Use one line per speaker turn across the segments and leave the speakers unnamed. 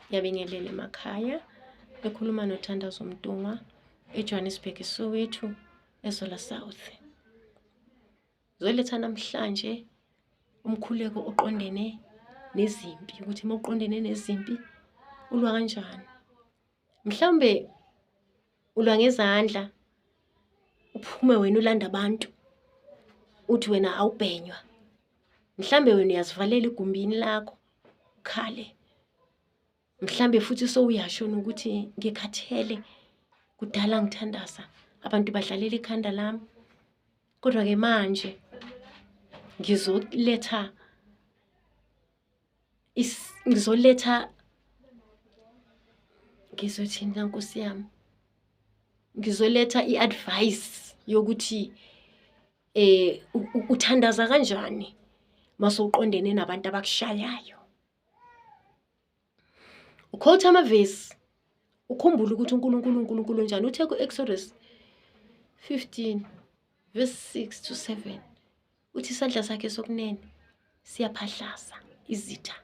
Ngiyabingelela emakhaya ekhuluma noThandazo Mtungwa eJohannesburg Soweto eZola South. Zoletha namhlanje umkhuleko oqondene nezimpi ukuthi uma uqondene nezimpi ulwa kanjani. mhlawumbe ulwa ngezandla uphume wena ulanda abantu uthi wena awubhenywa mhlawumbe wena uyazivalela igumbini lakho ukhale mhlawumbe futhi sowuyashona ukuthi ngikhathele kudala ngithandaza abantu badlalela ikhanda lami kodwa-ke manje ngizoletha ngizoletha ngizothini na nkosi yami ngizoletha i-advice yokuthi eh uthandaza kanjani masowuqondene nabantu abakushayayo ukhotha amavesi ukhumbule ukuthi uNkulunkulu uNkulunkulu njani uthe ku-Exodus 15 verse 6 to 7 uthi isandla sakhe sokunene siyaphahlasa izitha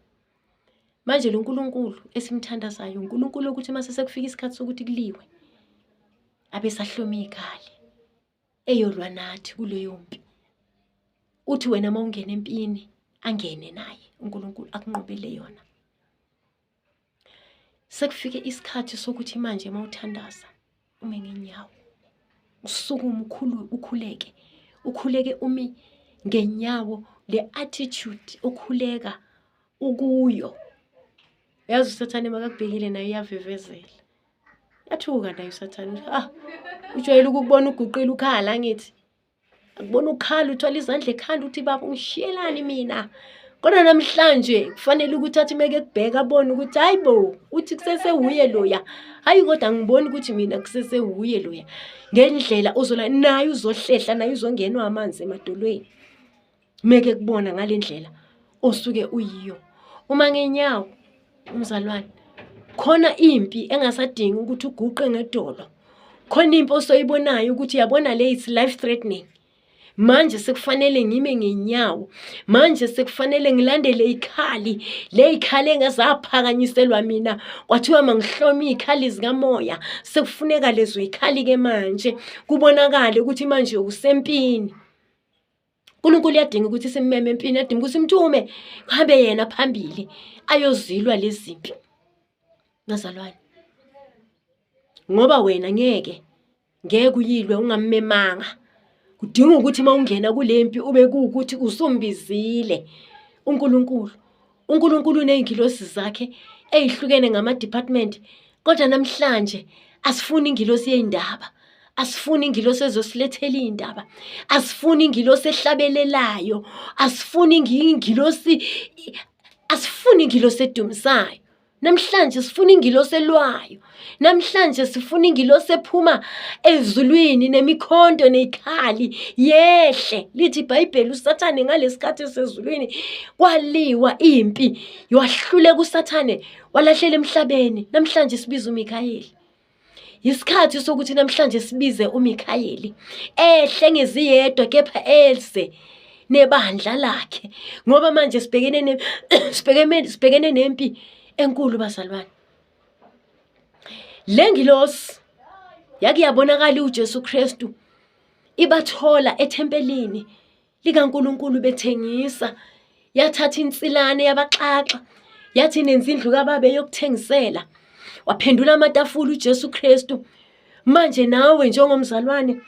manje lo nkulunkulu esimthandazayo unkulunkulu ukuthi uma sesekufika isikhathi sokuthi kuliwe abesahlome ikhali eyolwa nathi kuleyo mpi uthi wena uma ungena empini angene naye unkulunkulu akunqobele yona sekufike isikhathi sokuthi manje uma uthandaza ume ngenyawo usukume ukhulu ukhuleke ukhuleke umi ngenyawo le attitude okhuleka ukuyo yazi usathane makakubhekile nayo iyavivezela yathuka nayo usathane ah ujwayele ukubona uguqile ukhala ngithi akubona ukhala uthwala izandla ekhanda ukuthi baba ungishiyelani mina kodwa namhlanje kufanele ukuthi athi meke kubheka abone ukuthi hayi bo uthi kusese wuye loya hayi kodwa angiboni ukuthi mina kusese wuye loya ngendlela uzola naye uzohlehla naye uzongenwa amanzi emadolweni meke kubona ngale ndlela osuke uyiyo uma ngenyawo umzalwane khona impi engasadingi ukuthi uguqe ngedolo khona impi osoyibonayo ukuthi yabona le it's life threatening manje sekufanele ngime ngenyawo manje sekufanele ngilandele ikhali le ikhali engazaphakanyiselwa mina kwathiwa mangihlome ikhali zikamoya sekufuneka lezo ikhali ke manje kubonakale ukuthi manje usempini uNkulunkulu uyadinga ukuthi simeme empini adinga ukuthi simthume kuhambe yena phambili ayozilwa lezimpi nazalwane ngoba wena ngeke ngeke uyilwe ungammemanga kudinga ukuthi uma ungena kule mpi ube kuwukuthi usumbizile uNkulunkulu uNkulunkulu uney'ngilosi zakhe ey'hlukene ngama-department kodwa namhlanje asifuni ingilosi yey'ndaba asifuni ingilosi ezosilethela iy'ndaba asifuni ingilosi ehlabelelayo asifuni ingilosi asifuni ingilosi edumisayo Namhlanje sifuna ingilosi elwayo. Namhlanje sifuna ingilosi ephuma ezulwini nemikhonto nezikhali yehle. Lithi iBhayibheli uSathane ngalesikhathi esezulwini kwaliwa impi. Wahluleka uSathane walahlela emhlabeni. Namhlanje sibiza uMikhayeli. yisikhathi sokuthi namhlanje sibize uMikhayeli ehle ngeziyedwa kepha eze nebandla lakhe ngoba manje sibhekene ne sibhekene sibhekene nempi enkulu bazalwane lengilosi yakuyabonakala uJesu Kristu ibathola ethempelini likaNkulunkulu bethengisa yathatha insilane yabaxaxa yathi nenza indlu kababe yokuthengisela waphendula amatafula uJesu Kristu manje nawe njengomzalwane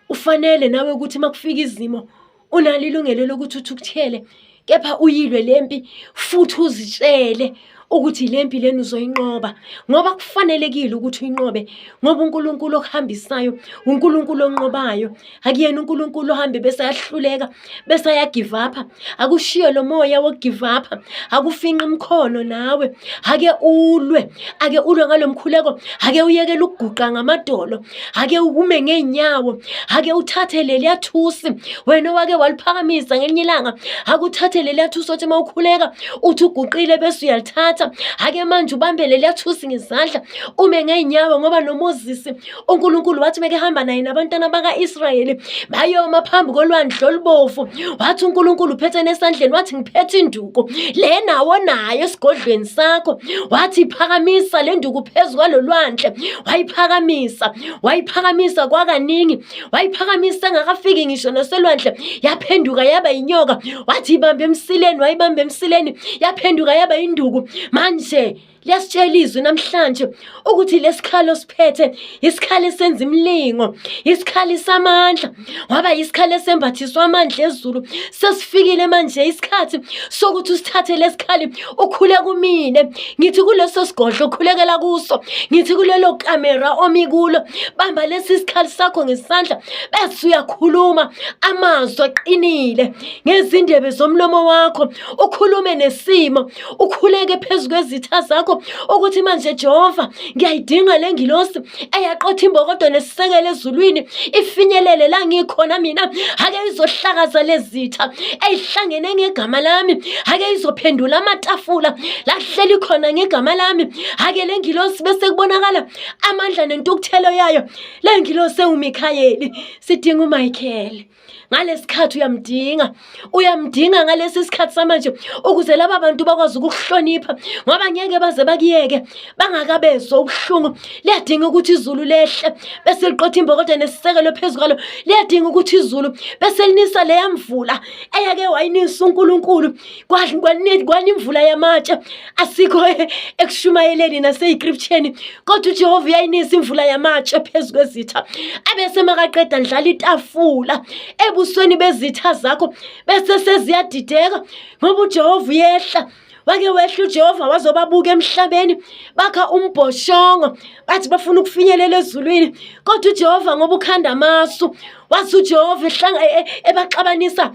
ufanele nawe ukuthi makufika izimo unalo ilungelo lokuthi uthukuthele kepha uyilwe lempi futhi uzitshele ukuthi le mpi leni uzoyinqoba ngoba kufanelekile ukuthi uyinqobe ngoba uNkulunkulu okuhambisayo uNkulunkulu onqobayo akuyena uNkulunkulu ohambe bese yahluleka bese ya give up akushiye lo moya wo give up akufinqa imkhono nawe ake ulwe ake ulwe ngalomkhuleko ake uyekele ukuguqa ngamadolo ake ukume ngeenyawo ake uthathe leliya thusi wena owake waliphakamisa ngelinye ilanga ake uthathe leliya thusi othi uma ukhuleka uthi uguqile bese uyalithatha ake manje ubambe leliya thusi ngezandla ume ngeenyawo ngoba nomozisi unkulunkulu wathi meke hamba naye nabantwana baka-israyeli bayoma phambi kolwandle olubovu wathi unkulunkulu uphethe nesandleni wathi ngiphethe induku induku le nawo nayo esigodlweni sakho wathi phakamisa le nduku phezu kwalolwandle wayiphakamisa wayiphakamisa kwakaningi wayiphakamisa engakafiki ngisho naselwandle yaphenduka yaba inyoka wathi ibambe emsileni wayibambe emsileni yaphenduka yaba induku manje liyasitshela izwi namhlanje ukuthi lesikhalo siphethe isikhali senza imilingo isikhali samandla waba isikhali esembathiswa amandla ezulu sesifikile manje isikhathi sokuthi usithathe lesikhali ukhule kumine ngithi kuleso sigodlo ukhulekela kuso ngithi kulelo kamera omi kulo bamba lesi sikhali sakho ngesandla bese uyakhuluma amazwi aqinile ngezindebe zomlomo wakho ukhulume nesimo ukhuleke phezu kwezitha zakho ukuthi manje Jehova ngiyayidinga le ngilosi eyaqotha imbokodo nesisekelo ezulwini ifinyelele la ngikhona mina ake izohlakaza lezitha eyihlangene ngegama lami ake izophendula amatafula la kuhleli khona ngegama lami ake le ngilosi bese kubonakala amandla nentukuthelo yayo le ngilosi ewuMikhayeli sidinga uMichael ngalesikhathi uyamdinga uyamdinga ngalesi sikhathi samanje ukuze laba bantu bakwazi ukukuhlonipha ngoba ngeke baze bakuyeke bangakabezwa ubuhlungu liyadinga ukuthi izulu lehle bese liqotha imbokodo nesisekelo phezu kwalo liyadinga ukuthi izulu bese linisa leya mvula eyake wayinisa unkulunkulu kwana imvula yamatshe asikho e, ekushumayeleni naseyikriphsheni kodwa ujehova uyayinisa imvula yamatshe phezu kwezitha abese makaqeda ndlala itafula ebusweni bezitha zakho bese seziyadideka ngoba ujehova uyehla wake wehla uJehova wazobabuka emhlabeni bakha umbhoshongo bathi bafuna ukufinyelela ezulwini kodwa uJehova ngoba ukhanda amasu wathi uJehova ehlanga e, e, ebaxabanisa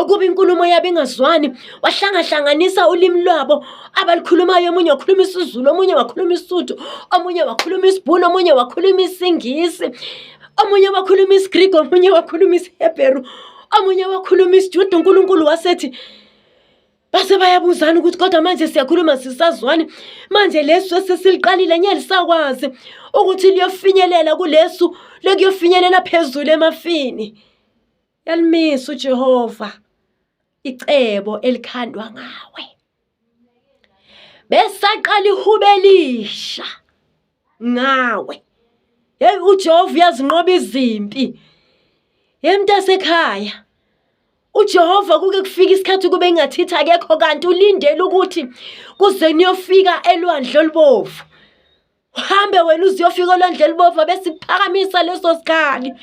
ukuba inkulumo yabo ingazwani wahlangahlanganisa ulimi lwabo abalukhulumayo omunye wakhuluma isizulu omunye wakhuluma isuthu omunye wakhuluma isibhunu omunye wakhuluma isingisi omunye wakhuluma isigreek omunye wakhuluma isihebheru omunye wakhuluma isijuda unkulunkulu wasethi base bayabuzana ukuthi kodwa manje siyakhuluma sisazwani manje lesu esesiliqalile nye lisakwazi ukuthi liyofinyelela kulesu lekuyofinyelela phezulu emafini Yalimisa uJehova icebo elikhandwa ngawe. Besaqala ihubelisha ngawe. Hey uJehova uyazinqoba izimpi. Yemntasekhaya uJehova kuke kufika isikhathi kube ingathithi akekho kanti ulindele ukuthi kuze niyofika elwandle olubovu uhambe wena uziyofika olwandle elibovu abesiphakamisa leso sikhali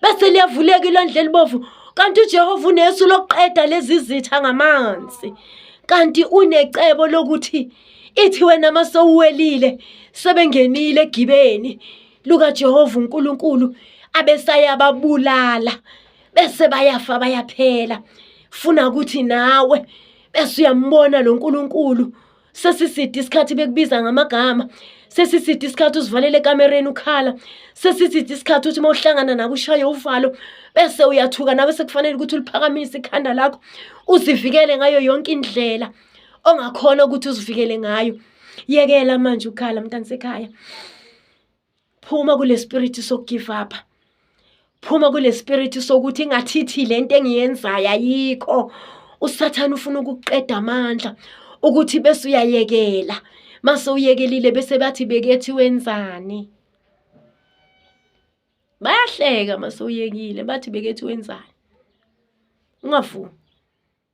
bese liyavuleka ilwandle elibovu kanti ujehova unesu lokuqeda lezi zitha ngamanzi kanti unecebo lokuthi ithi wena uma sowuwelile sebengenile egibeni lukajehova unkulunkulu abesayababulala bese bayafa bayaphela funa ukuthi nawe bese uyambona lo nkulunkulu sesiside isikhathi bekubiza ngamagama sesiside isikhathi uzivalele ekamereni ukhala sesiside isikhathi uthi uma uhlangana nabo ushaye uvalo bese uyathuka nawe sekufanele ukuthi uliphakamise ikhanda lakho uzivikele ngayo yonke indlela ongakhona ukuthi uzivikele ngayo yekela manje ukhala mntana sekhaya phuma kule spirit sokugive up phuma kule spirit sokuthi ingathithi le nto engiyenzayo ayikho usathane ufuna ukuqeda amandla ukuthi bese uyayekela mase uyekelile bese bathi bekethi wenzani bayahleka mase uyekile bathi bekethi wenzani ungavumi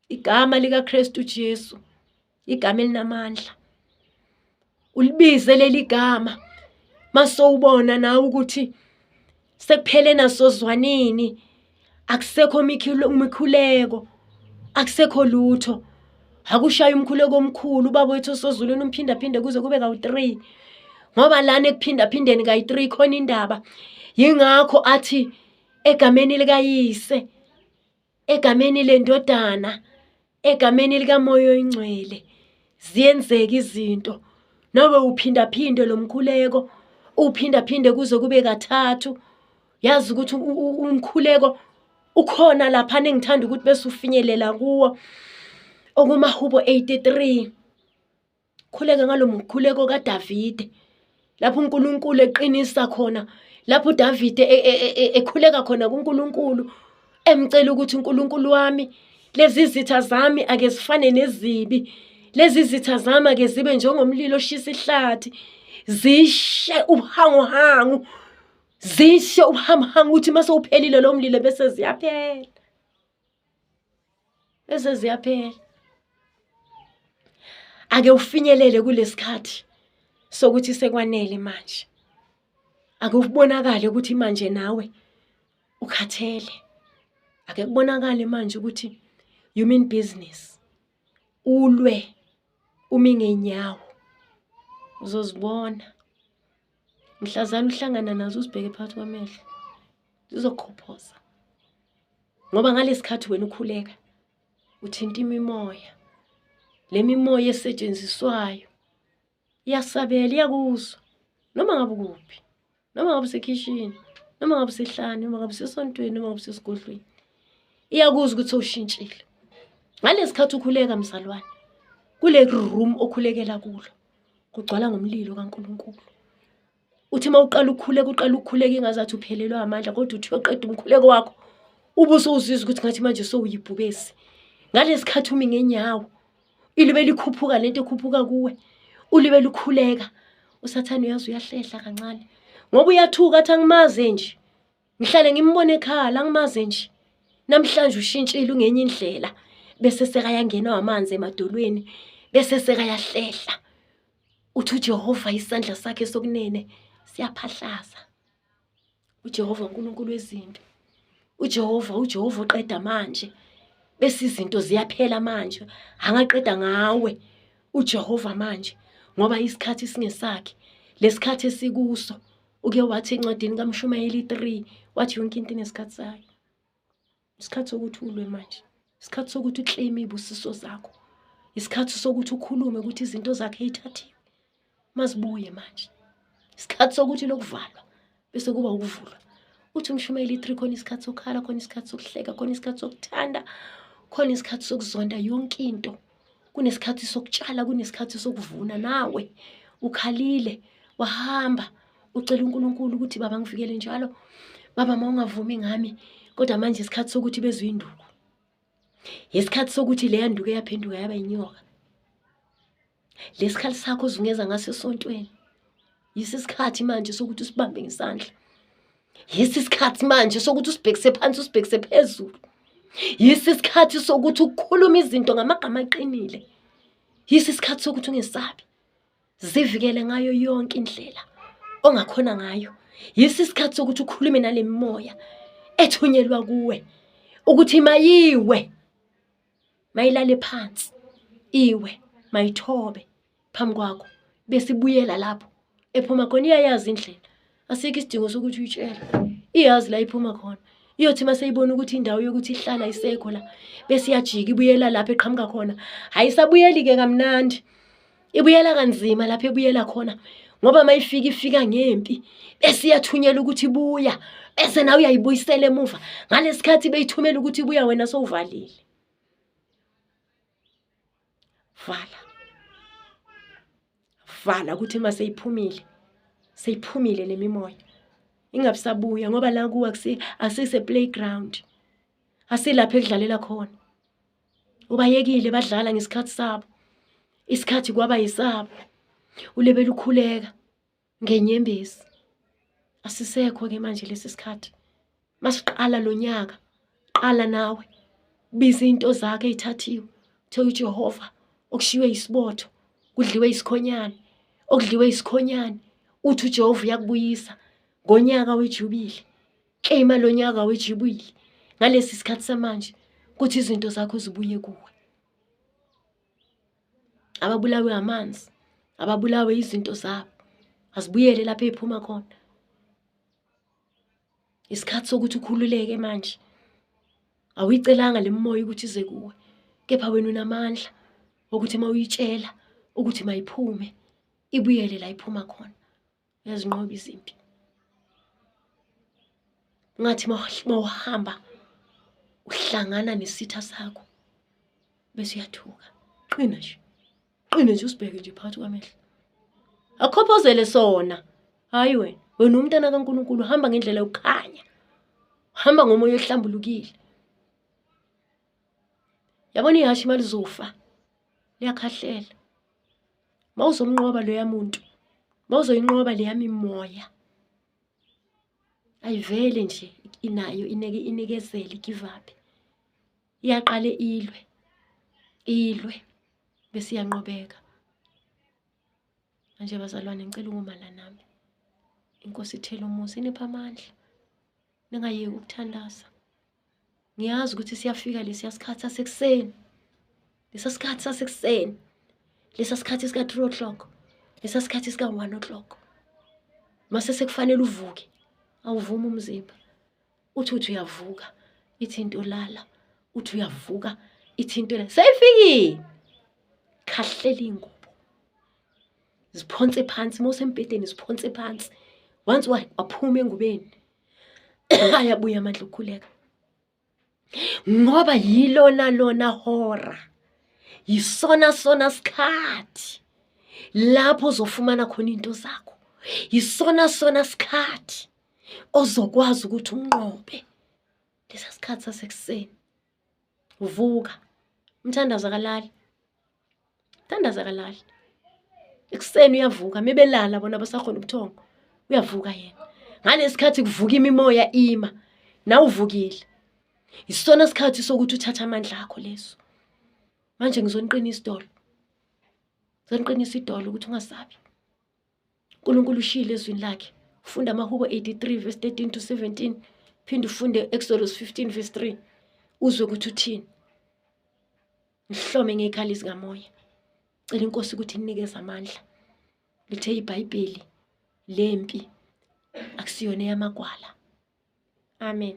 igama likaKristu Jesu igama elinamandla ulibize leli gama masowubona nawe ukuthi sekuphele naso zwanini akusekho mikhuleko akusekho lutho akushaya umkhuleko omkhulu ubaba wethu osozulwini umphindaphinde kuze kube kawu-three ngoba lana ekuphindaphindeni kayi-three khona indaba yingakho athi egameni likayise egameni lendodana egameni likamoya oyingcwele ziyenzeka izinto nawe uphindaphinde lo mkhuleko uphindaphinde kuze kube kathathu yazi ukuthi umkhuleko ukhona lapha nengithanda ukuthi bese ufinyelela kuwo okumahubo 83 Khuleka ngalo mkhuleko kaDavide lapho uNkulunkulu eqinisa khona lapho uDavide e, e, e, ekhuleka khona kuNkulunkulu emcela ukuthi uNkulunkulu wami lezi zitha zami ake zifane nezibi lezi zitha zami ake zibe njengomlilo oshisa ihlathi zishe ubuhanguhangu zishe ubuhamhangu ukuthi mase uphelile lo mlilo bese ziyaphela bese ziyaphela ake ufinyelele kulesikhathi sokuthi sekwanele manje ake ubonakale ukuthi manje nawe ukhathele ake kubonakale manje ukuthi you mean business ulwe umi ngenyawo uzozibona mhlazana uhlangana nazo uzibheke phakathi kwamehlo zizokhophoza ngoba ngalesikhathi wena ukhuleka uthinta imimoya le mimoya esetshenziswayo iyasabela iyakuzwa noma ngabe ukuphi noma ngabe usekhishini noma ngabe usehlane noma ngabe usesontweni noma ngabe usesigodlweni iyakuzwa ukuthi sowushintshile ngalesikhathi ukhuleka mzalwane kule room okhulekela kulo kugcwala ngomlilo kaNkulunkulu uthi uma uqala ukhuleka uqala ukhuleka ingazathi uphelelwa amandla kodwa uthi uyoqeda umkhuleko wakho ube usuzizwa ukuthi ngathi manje sowuyibhubesi ngalesi khathi umi ngenyawo ilibe likhuphuka le nto ekhuphuka kuwe ulibe lukhuleka usathane uyazi uyahlehla kancane ngoba uyathuka athi angimazi nje Ngihlale ngimbona ekhala ngimaze nje. Namhlanje ushintshile ungenye indlela bese sekayangena amanzi emadolweni bese sekayahlehla. Uthi uJehova isandla sakhe sokunene siyaphahlaza. uJehova uNkulunkulu wezimpi uJehova uJehova uqeda manje bese izinto ziyaphela manje angaqeda ngawe uJehova manje ngoba isikhathi singesakhe lesikhathi esikuso uke wathi encwadini kamshumayeli 3 wathi yonke into inesikhathi sayo isikhathi sokuthi ulwe manje isikhathi sokuthi uclaim ibusiso zakho isikhathi sokuthi ukhulume ukuthi izinto zakhe ithathiwe mazibuye manje isikhathi sokuthi lokuvalwa bese kuba ukuvulwa uthi umshumayeli 3 khona isikhathi sokukhala khona isikhathi sokuhleka khona isikhathi sokuthanda khona isikhathi sokuzonda yonke into kunesikhathi sokutshala kunesikhathi sokuvuna nawe ukhalile wahamba ucela uNkulunkulu ukuthi baba ngifikele njalo baba mawungavumi ngami kodwa manje isikhathi sokuthi bezwe induku yesikhathi sokuthi leya nduku eyaphenduka yaba inyoka lesikhali sakho uzungeza ngaso esontweni yisi isikhathi manje sokuthi usibambe ngesandla yisi isikhathi manje sokuthi usibhekise phansi usibhekise phezulu yisi isikhathi sokuthi ukhulume izinto ngamagama aqinile yisi isikhathi sokuthi ungesabi zivikele ngayo yonke indlela ongakhona ngayo yisi isikhathi sokuthi ukhulume nale mimoya ethunyelwa kuwe ukuthi mayiwe mayilale phansi iwe mayithobe phambi kwakho besibuyela lapho ephuma khona iyayazi indlela asikho isidingo sokuthi uyitshele iyazi la iphuma khona iyothi uma seyibona ukuthi indawo yokuthi ihlala isekho la bese iyajika ibuyela lapho eqhamuka khona hhayi isabuyeli-ke kamnandi ibuyela kanzima lapho ebuyela khona ngoba mayifika ifika ngempi bese iyathunyelwa ukuthi buya bese nawe uyayibuyisela emuva ngalesikhathi beyithumela ukuthi buya wena sowuvalile vala vala ukuthi uma seyiphumile seyiphumile le mimoya ingabusabuya ngoba la kuwa asise playground asilapho ekudlalela khona ubayekile badlala ngesikhathi sabo isikhathi kwaba yisabo ulebela ukhuleka ngenyembezi asisekho ke manje lesi sikhathi masiqala lo nyaka qala nawe biza into zakhe ithathiwe thela uJehova okushiywe isibotho kudliwe isikhonyane okudliwe isikhonyane uthi uJehova uyakubuyisa ngonyaka wejubile Claima lo nyaka wejibuyile ngalesi sikhathi samanje ukuthi izinto zakho zibuye kuwe. Ababulawe amanzi, ababulawe izinto zabo, azibuyele lapho ephuma khona. Isikhathi sokuthi ukhululeke manje. Awuyicelanga lemimoya ukuthi ize kuwe, kepha wena unamandla ukuthi mawuyitshela ukuthi mayiphume ibuyele la iphuma khona. uyazinqoba izimpi ungathi mawuhamba uhlangana nesitha sakho bese uyathuka qina nje qina nje usibheke nje phakathi kwamehlo akhophozele sona hayi wena wena umntana kaNkuluNkulu hamba ngendlela yokukhanya hamba ngomoya ohlambulukile yabona ihashi imali zofa liyakhahlela mawuzomnqoba loya muntu mawuzoyinqoba leya mimoya ayivele nje inayo ineke inikezele give up iyaqale ilwe ilwe bese iyanqobeka manje bazalwane ngicela ukumala nami inkosi ithela umuzi inipha amandla ningayeki ukuthandaza ngiyazi ukuthi siyafika lesiya sikhathi sasekuseni lesa sikhathi sasekuseni lesa sikhathi sika-three o'clock lesa sikhathi sika-one o'clock mase sekufanele uvuke awuvumi umzimba uthi uthi uyavuka ithi into lala uthi uyavuka ithi into lala seyifikile khahlela iy'ngubo ziphonse phansi uma usembhedeni ziphonse phansi once waphuma engubeni ayabuya amandla okukhuleka ngoba yilona lona hora yisona sona sikhathi lapho uzofumana khona into zakho yisona sona sikhathi ozokwazi ukuthi unqobe lesa sikhathi sasekuseni vuka umthandazo akalali Thandaza kalali. Ekuseni uyavuka mebelala bona basakhona ubuthongo. Uyavuka yena. Ngalesikhathi kuvuka imimoya ima. Nawuvukile. Isona sikhathi sokuthi uthatha amandla akho leso. Manje ngizoniqinisa idolo. Ngizoniqinisa idolo ukuthi ungasabi. uNkulunkulu ushilo ezwini lakhe ufunda amahubo 83 verse 13 to 17 phinde ufunde Exodus 15 verse 3 uzwe ukuthi uthini ngihlome ngekhala izikamoya cela inkosi ukuthi inikeze amandla lithe ibhayibheli lempi akusiyona eyamagwala amen